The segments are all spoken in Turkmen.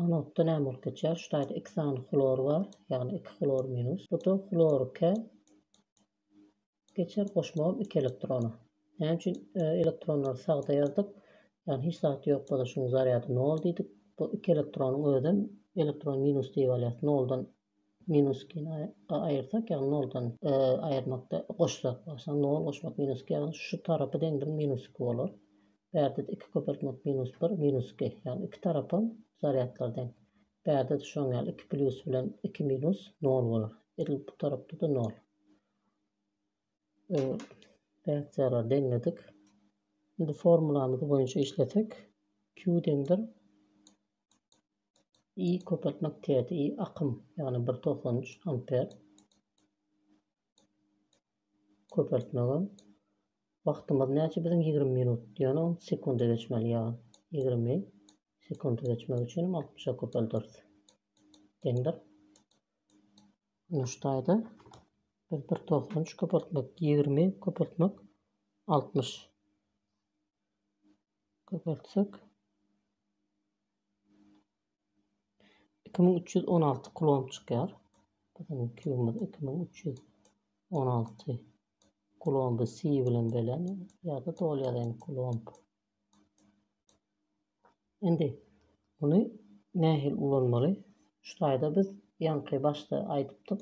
Anodda näme bolup geçýär? Şu taýda iki sany hlor bar, ýagny iki hlor minus. Bu-da hlorike geçer, goşmagam iki elektrona. Näme üçin elektronlary sagda ýazdyk? Ýagny hiç zat ýok bolsa şunuň zarýady nol diýdik. Bu iki elektronyň özem elektron minus diýip alýas. Noldan Minuskyny aýyrsak, ýagny noldan aýyrmakda goşsak, başyna nol goşmak, minusky, ýagny şu tarapy deň bir minusky bolar. Bärde-de iki köpeltmek minus bir, minusky, ýagny iki tarapam zarýadlar deň. Bärde-de şoň ýaly iki plýus bilen iki minus nol bolar. Edil bu tarapda-da nol. Reaksiýalary deňledik. Indi formulamyz boýunça işlesek, Q deňdir I köpeltmek täze I akym, ýagny bir togsan üç amper köpeltmegem. Wagtymyz näçe biziň ýigrimi minut diýeni on sekunda geçmeli ýa ýigrimi sekunda geçmek üçin altmyşa köpeldiris. Deňdir. Muşdaýda biz bir togsan üç köpeltmek ýigrimi köpeltmek altmyş Köpeltsek. Iki müň üç ýüz on alty kulon çykýar. Biziň kilomiz iki müň üç ýüz on alty kulon bu si bilen belen ýa-da doly ýazaýyn kulon. Indi muny nähili ulanmaly? Şu taýda biz ýaňky başda aýdypdyk.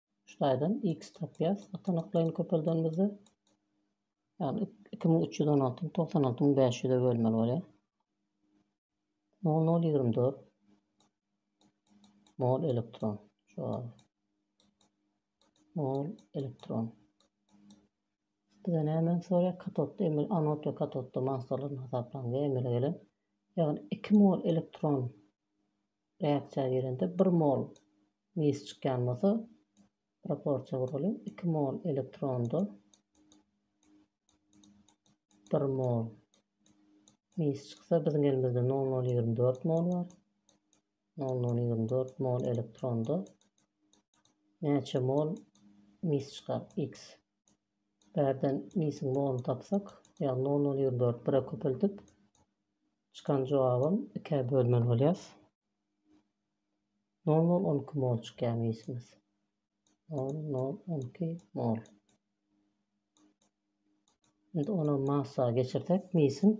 Şu taýdan x tapýas. Atanaklaýyny köpeldenimizde ýagny 2316 ni 96500 e bölmeli bolýar. 0024 mol elektron. Şu mol elektron. Bize näme sorýar? Katodda emel anod we katodda massalardan hasaplan we emele gelen ýagny 2 mol elektron Reaksiýa gelende bir mol mis çykýan bolsa, proporsiýa guralyň, iki mol elektronda bir mol mis çyksa, biziň elimizde nol nol ýigrimi dört mol bar. Nol nol ýigrimi dört mol elektronda näçe mol mis çykar? X. Bärden misiň noluny tapsak, ýagny nol nol ýigrimi dört bire köpeldip, çykan jogabam ikä bölmeli bolýar. Nol nol on iki mol çykýar misimiz. Nol nol on iki mol. Indi ony massa geçirsek, misiň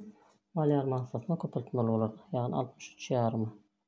malýar massasyna köpeltmeli bolar, ýagny altmyş üç ýarymy.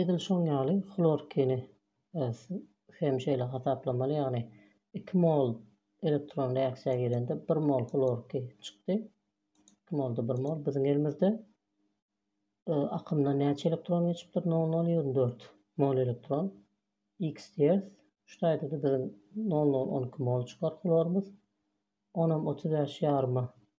Edil şoň ýaly hlorkini hem şeýle hasaplamaly, ýagny iki mol elektron reaksiýa girende bir mol hlorki çykdy. Iki molda bir mol. Biziň elimizde akymdan näçe elektron geçipdir? 0,024 mol elektron. X diýeris. Şu taýda-da biziň 0,012 mol çykar hlorymyz. Onam otuz bäş ýaryma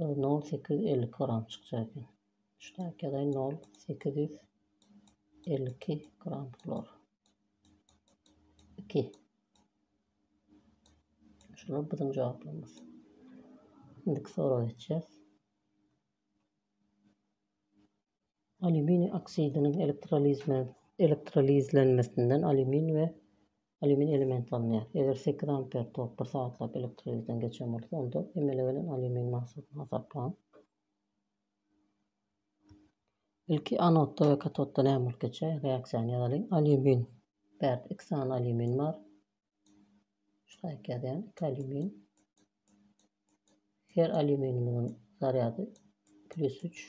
Nol nol sekiz ýüz elli iki gram çykjak eken. Şu taýkadaý nol sekiz ýüz elli iki gram hlor. Iki. Şular biziň jogaplarymyz. Indiki soraga geçýäs. Alýuminiý oksidiniň elektrolizlenmesinden alýumin we alýumin elementi alynýar. Eger sekiz amper tok bir sagatlap elektrolizden geçen bolsa, onda emele gelen alýumin massasyny hasaplaň. Ilki anodda we katodda näme bolup geçýär? Reaksiýany ýazalyň. Alýumin. Bärde iki sany alýumin bar. Şaýk ýazýan iki alýumin. Her alýuminimiziň zarýady plus 3.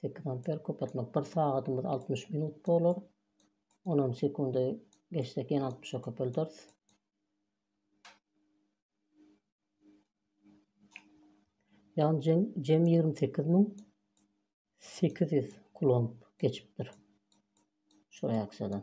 Sekiz amper köpeltmek bir sagadymyz altmyş minut bolar. Onam sekundy geçsek ýene altmyşa köpelderis. Ýagny jem jem ýigrimi sekiz müň sekiz ýüz kulomb geçipdir. Şu reaksiýadan.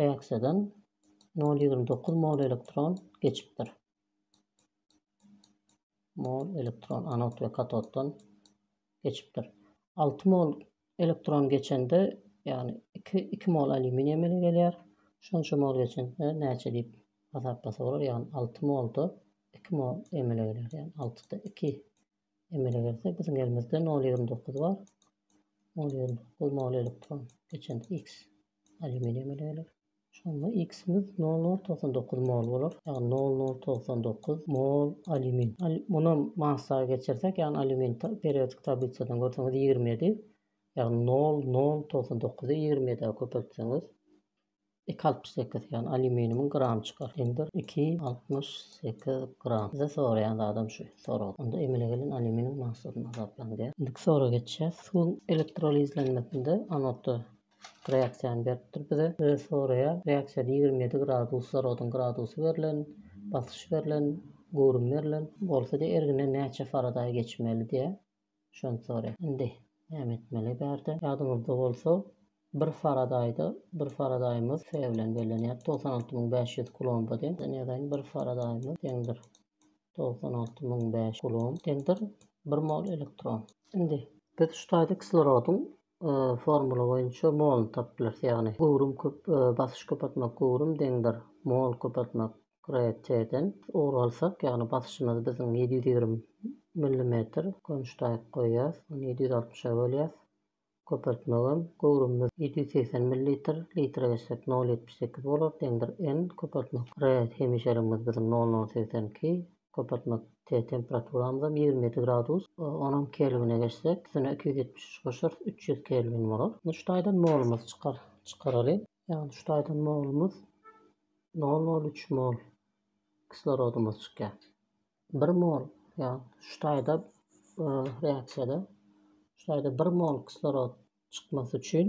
Reaksiýadan nol ýigrimi dokuz mol elektron geçipdir. Mol elektron anod we katoddan geçipdir. Alty mol elektron geçende, ýagny iki, iki mol alýuminiý emele gelýär. Şonça mol geçende näçe diýip hasaplasa bolar, ýagny alty molda iki mol emele gelýär, ýagny altyda iki Emele gelse biziň elimizde nol ýigrimi dokuz bar. Nol ýigrimi dokuz nol elektron. Geçen x alýuminiý emele geler. Şonda x-imiz nol nol togsan dokuz mol bolar. Ýagny nol nol togsan dokuz mol alýumin. Muny massa geçirsek, ýagny alýumin periodik tablisadan görseňiz ýigrimi ýedi. Ýagny nol nol togsan dokuzy ýigrimi ýedä köpeltseňiz Iki altmyş sekiz ýagny alýuminimiň gramy çykar. Deňdir iki altmyş sekiz gram. Bize soraýan zadam şu sorag. Onda emele gelen alýuminiň massasyny hasaplaň diýýär. Indiki soraga geçýäs. Suwuň elektrolizlenmesinde anodda reaksiýany beripdir bize. Bize soraýar, reaksiýada ýigrimi ýedi graduslar oduň gradusy berlen, basyş berlen, göwrüm berlen. Bolsa diýýär, ergine näçe faradaý geçmeli diýýär. Şonsory indi näme etmeli bärde? Ýadyňyzda bolsa, bir faradaýda, bir faradaýymyz Fe bilen bellenýärdi, togsan alty müň bäş ýüz kulomba deň. Ýöne ýazaýyn, bir faradaýymyz deňdir, togsan alty müň bäş ýüz kulomb deňdir, bir mol elektron. Indi biz şu taýda kislorodyň Formula boýunça moluny tapyp bilersiň, ýagny göwrüm köp, basyş köp atmak göwrüm deňdir mol köp atmak RT-den ugur alsak, ýagny basyşymyzy biziň ýedi ýüz ýigrimi millimetr konçtaýk goýýas, ony ýedi ýüz altmyşa bölýäs, köpeltmegem göwrümimiz ýedi ýüz segsen millilitr, litre geçsek nol ýetmiş sekiz bolar, deňdir N köpeltmek R hemişeligimiz biziň nol nol segsen iki, Köpeltmek T temperaturamyzam ýigrimi ýedi gradus. Onam kelwine geçsek, üstüne iki ýüz ýetmiş üç goşarys, üç ýüz kelwin bolar. Indi şu taýdan molumyzy çykar, çykaraly. Ýagny şu taýdan molumyz nol nol üç mol kislorodymyz çykýar. Bir mol, ýagny şu taýda reaksiýada şu taýda bir mol kislorod çykmasy üçin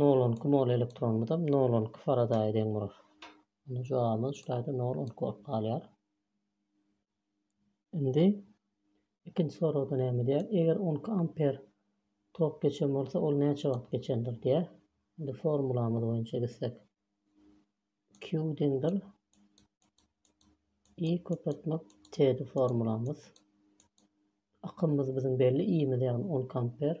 Nol on iki mol elektronymyzam nol on iki faradaýa deň bolar. Onda jogabymyz şu taýda nol on iki bolup galýar. Indi ikinji soragda näme diýýär? Eger on iki amper tok geçen bolsa, ol näçe wagt geçendir diýýär. Indi formulamyz boýunça gitsek. Q deňdir I köpeltmek T-di formulamyz. Akymymyz biziň belli, I-miz ýagny on iki amper.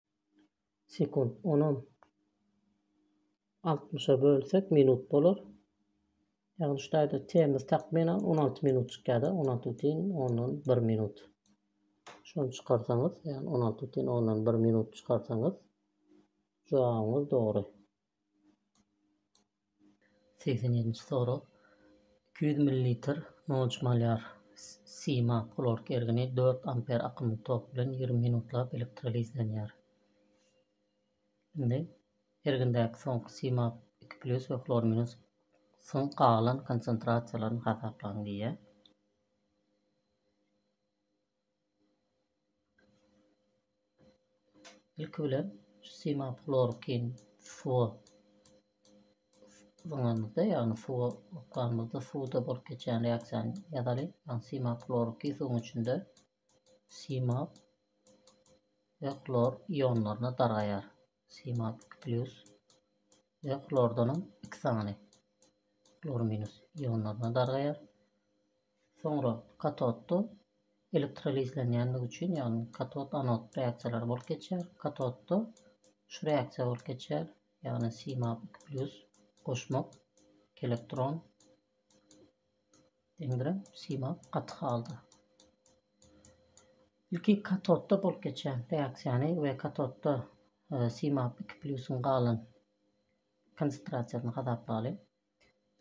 Sekund. Onam altmyşa bölsek minut bolar. Ýagny şu taýda temiz takmynan on alty minut çykýar-da, on alty bütin ondan bir minut. Şony çykarsaňyz, ýagny on alty bütin ondan bir minut çykarsaňyz jogabyňyz dogry. Segsen ýedinji sorag. Iki ýüz millilitr nolc malýar sima hlorki ergini dört amper akymly tok bilen ýigrimi minutlap elektrolizlenýär. Indi ergindäki soňky sima iki plýus we hlor minus syň galan konsentrasiýalaryny hasaplaň diýýär. Ilki bilen şu simaplorkin suwa zyňanymyzda, ýagny suwa okanyňyzda suwda bolup geçýän reaksiýany ýazalyň. Ýagny simaploriki suwuň içinde simap we hlor ionlaryna dargaýar. Simal plus we hlordanam iki sany hlor minus ionlaryna dargaýar. Soňra katodda elektrolizlenýänligi üçin, ýagny katod anod reaksiýalary bolup geçýär. Katodda şu reaksiýa bolup geçýär, ýagny Cmap 2+ goşmak, elektron Deňiren sima gaty halda. Ilki katodda bolup geçen reaksiýany we katodda e, simap 2 plyusyň galan konsentrasiýasyny hasaplaly.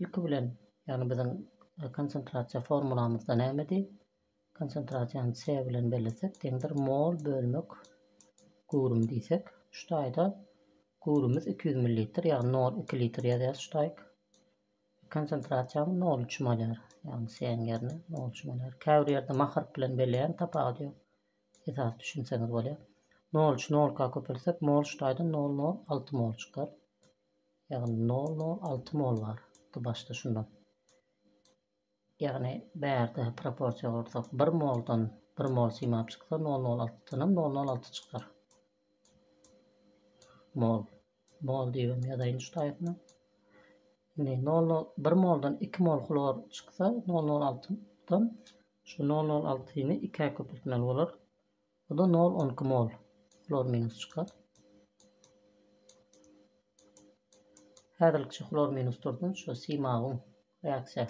Ilki bilen, ýagny biziň e, konsentrasiýa formulamyzda nämedi? Konsentrasiýany C bilen bellesek, deňdir mol bölmek göwrüm diýsek, şu taýda göwrümimiz 200 ml, ýagny 0,2 litr ýazýarys şu taýk. Konsentrasiýaňy nol üçin bolýar. Ýagny C-iň ýerine nol üçin bolýar. Käbir ýerde maharp bilen belleýän tapawudy ýok. Esasy düşünseňiz bolýar. Nol üç nolka köpeltsek mol ştaýdan nol nol alty mol çykar. Ýagny nol nol alty mol bar. Başda şundan. Ýagny bärde proporsiýa gursak bir moldan bir mol simap çyksa nol nol altydanam nol nol alty çykar. Mol. Mol diýibem ýazaýyn şu taýpyna. Indi nol nol bir moldan iki mol hlor çyksa nol nol altydan şu nol nol altyny ikä köpeltmeli bolar. Bu da 0 12 mol. Hlor minus çykar. Häzirlikçe hlor minus dursun. Şu simagun reaksiýa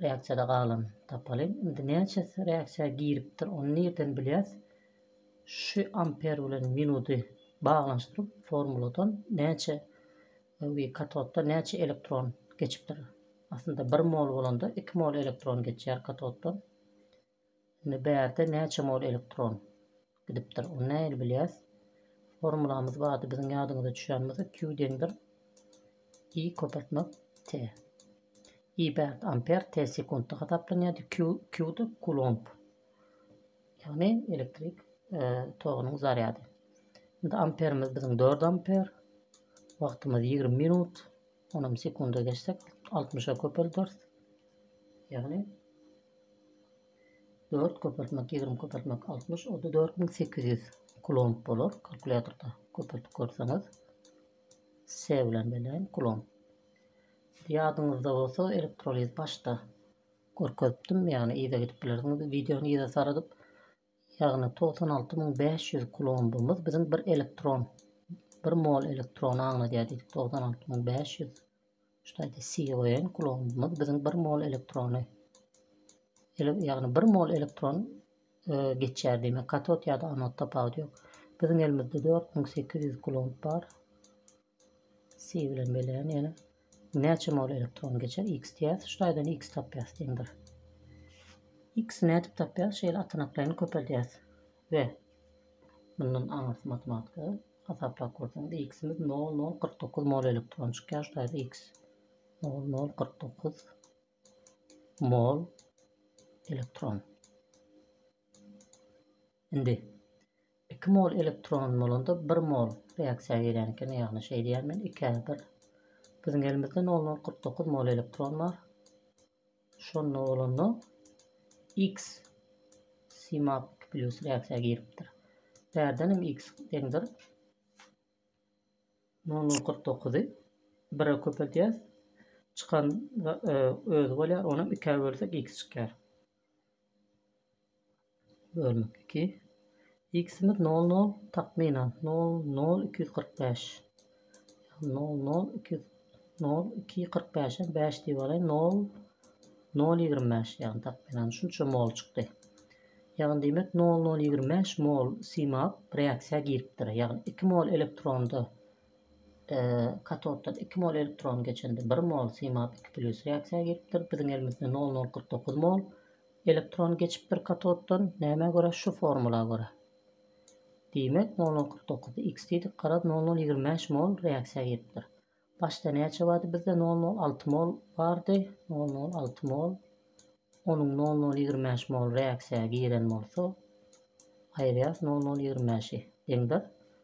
reaksiýada galan tapalyň. Indi näçe reaksiýa giripdir, ony nirden bilýäs? Şu amper bilen minuty baglanyşdyryp formuladan näçe we katodda näçe elektron geçipdir. Aslynda 1 mol bolanda 2 mol elektron geçýär katoddan. Indi bärde näçe mol elektron gidipdir, ony nähili bilýäs? Formulamyz bardy biziň ýadyňyza düşýän bolsa Q deňdir I köpeltmek T. I bärde amper, T sekuntda hasaplanýardy, Q Q-da kulomb. Ýagny elektrik e, togunyň zarýady. Indi amperimiz biziň 4 amper. Wagtymyz 20 minut. Onam sekunda geçsek altmyşa köpelders. Ýagny 4 köpeltmek, 20 köpeltmek 60, o da 4800 kulomb bolar. Kalkulýatorda köpeltip görseňiz. S bilen bellän kulomb. Ýadyňyzda bolsa elektroliz başda görkezipdim, ýagny yza gidip bilersiňiz, wideony yza saradyp Ýagny togsan alty müň bäş ýüz kulombymyz biziň bir elektron, bir mol elektrony aňladýar diýdik, togsan alty müň bäş ýüz ştaýta CON kulombymyz biziň bir mol elektrony, ýagny bir mol elektron e, geçýär diýmek, katod ýa-da anod tapawudy ýok. Biziň elimizde dört müň sekiz ýüz kulomb bar. Si bilen belän ýene näçe mol elektron geçer x diýýäs şu taýdan x tapýas deň bir x nädip tapýas şeýle atanaklaýyn köpeldýäs we mundan aňyrsy matematika hasaplap görseňiz x-imiz nol nol kyrk dokuz mol elektron çykýar şu taýda x nol nol kyrk dokuz mol elektron Indi iki mol elektron bolanda bir mol reaksiýa gelýän eken, ýagny şeý diýýän men ikä bir. Biziň elimizde nol nol kyrk dokuz mol elektron bar. Şonda bolanda X CMAP iki plýus reaksiýa giripdir. Bärden hem X deňdir nol nol kyrk dokuzy bire köpeldýäs. Çykan e, özi bolýar, onam ikä bölsek X çykýar. Bölmek iki. X-imiz nol nol, takmynan, nol nol iki ýüz kyrk bäş. Nol nol iki ýüz nol iki ýüz kyrk bäşe bäş diýip alaýyn. Nol nol ýigrimi bäş, ýagny takmynan şunça mol çykdy. Ýagny diýmek nol nol ýigrimi bäş mol simap reaksiýa giripdir. Ýagny iki mol elektronda Katoddan iki mol elektron geçende bir mol simap iki plýus reaksiýa giripdir. Biziň elimizde nol nol kyrk dokuz mol elektron geçipdir katoddan. Nämä görä? Şu formula görä. Diýmek, nol nol kyrk dokuzy x diýdik. Garaz, nol nol ýigrimi bäş mol reaksiýa giripdir. Başda näçe bardy? Bizde nol nol alty mol bardy. Nol nol alty mol. Onuň nol nol ýigrimi bäş mol reaksiýa giren bolsa, aýyrýas nol nol ýigrimi bäşi deňdir.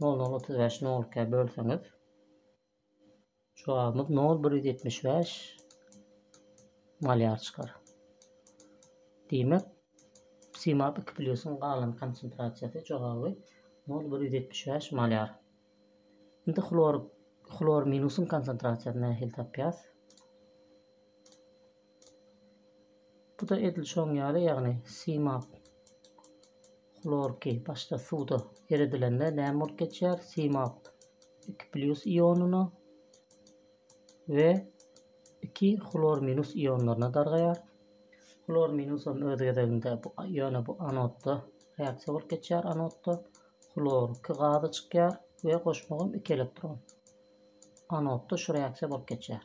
Noluny otuz bäş nol ikä bölseňiz. Jogabymyz nol bir ýüz ýetmiş bäş malýar çykar. Diýmek, simap iki plýusyň galan konsentrasiýasy jogaby nol bir ýüz ýetmiş bäş malýar. Indi hlor hlor minusyň konsentrasiýasyny nähili tapýas? Bu-da edil şoň ýaly, ýagny simap hlorky başda suwda eredilende näme bolup geçýär? Simap iki plýus ionyna we iki hlor minus ionlaryna dargaýar. Hlor minusam öz gezeginde bu ýöne bu anodda reaksiýa bolup geçýär anodda. Hlor iki gazy çykýar we goşmagam iki elektron. Anodda şu reaksiýa bolup geçýär.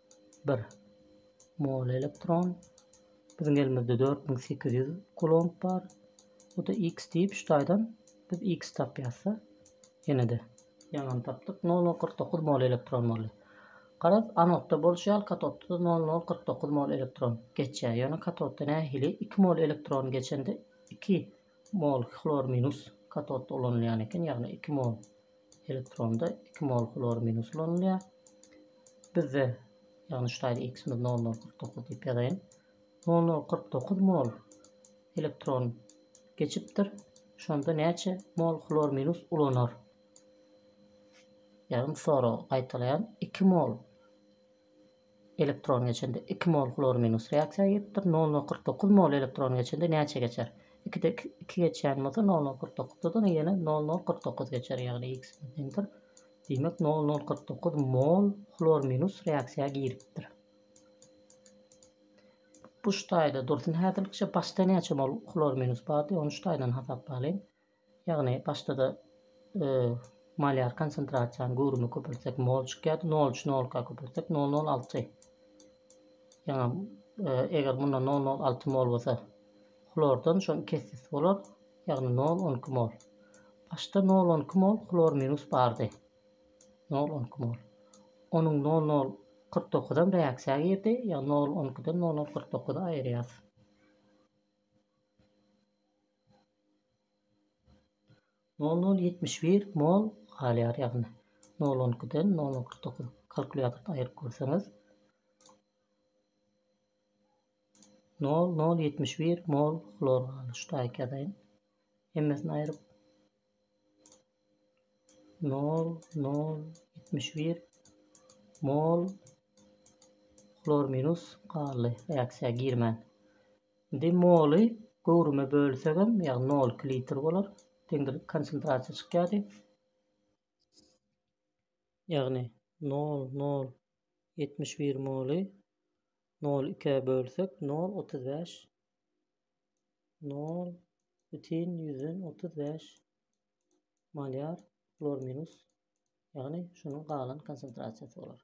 Bir mol elektron. Biziň elimizde 4800 kulomb bar. Bu da x diýip şu taýdan biz x tapýasda. Ýene-de ýaňam tapdyk. 0049 mol elektron boldy. Garaz, anodda bolşy ýaly katodda-da 0049 mol elektron geçýär. Ýöne katodda nähili 2 mol elektron geçende 2 mol hlor minus katodda ulanylýan eken, ýagny 2 mol Elektronda iki mol hlor minus ulanylýar. Bizde, ýagny şu taýda x-imiz 0049 diýip ýazaýyn. 0049 mol elektron geçipdir. Şonda näçe mol hlor minus ulanar? Ýagny sorag gaýtalaýan 2 mol Elektron geçende iki mol hlor minus reaksiýa gidipdir. Nol nol kyrk dokuz mol elektron geçende näçe geçer? Ikide iki geçýän bolsa nol nol kyrk dokuzdan ýene nol nol kyrk dokuz geçer ýagny x deňdir. Diýmek nol nol kyrk dokuz mol hlor minus reaksiýa giripdir. Bu ştaýda dursun häzirlikçe başda näçe mol hlor minus bardy ony ştaýdan hasaplaýyn. Ýagny başda-da malýar konsentrasiýany göwrümi köpeltsek mol çykýardy, nol üç nolka köpeltsek nol nol alty. Ýa eger munda nol nol alty mol bolsa hlordan şoň iki esse bolar, ýagny nol on iki mol. Başda nol on iki mol hlor minus bardy. Nol on iki mol. Onuň nol nol kyrk dokuzam reaksiýa girdi, ýagny nol on ikiden nol nol kyrk dokuzy aýyrýas. Nol nol ýetmiş bir mol galýar ýagny nol on ikiden nol nol kyrk dokuz kalkulýatordan aýryp görseňiz nol nol ýetmiş bir mol hlor galyşdy aýk ýazaýyn hemmesini aýryp nol nol ýetmiş bir mol hlor minus galdy reaksiýa girmän indi moly göwrüme bölsegem ýagny nol iki litr bolar deňdir konsentrasiýa çykýardy ýagny nol nol ýetmiş bir moly nol ikä bölsek nol otuz bäş nol bütin ýüzden otuz bäş malýar hlor minus ýagny şunuň galan konsentrasiýasy bolar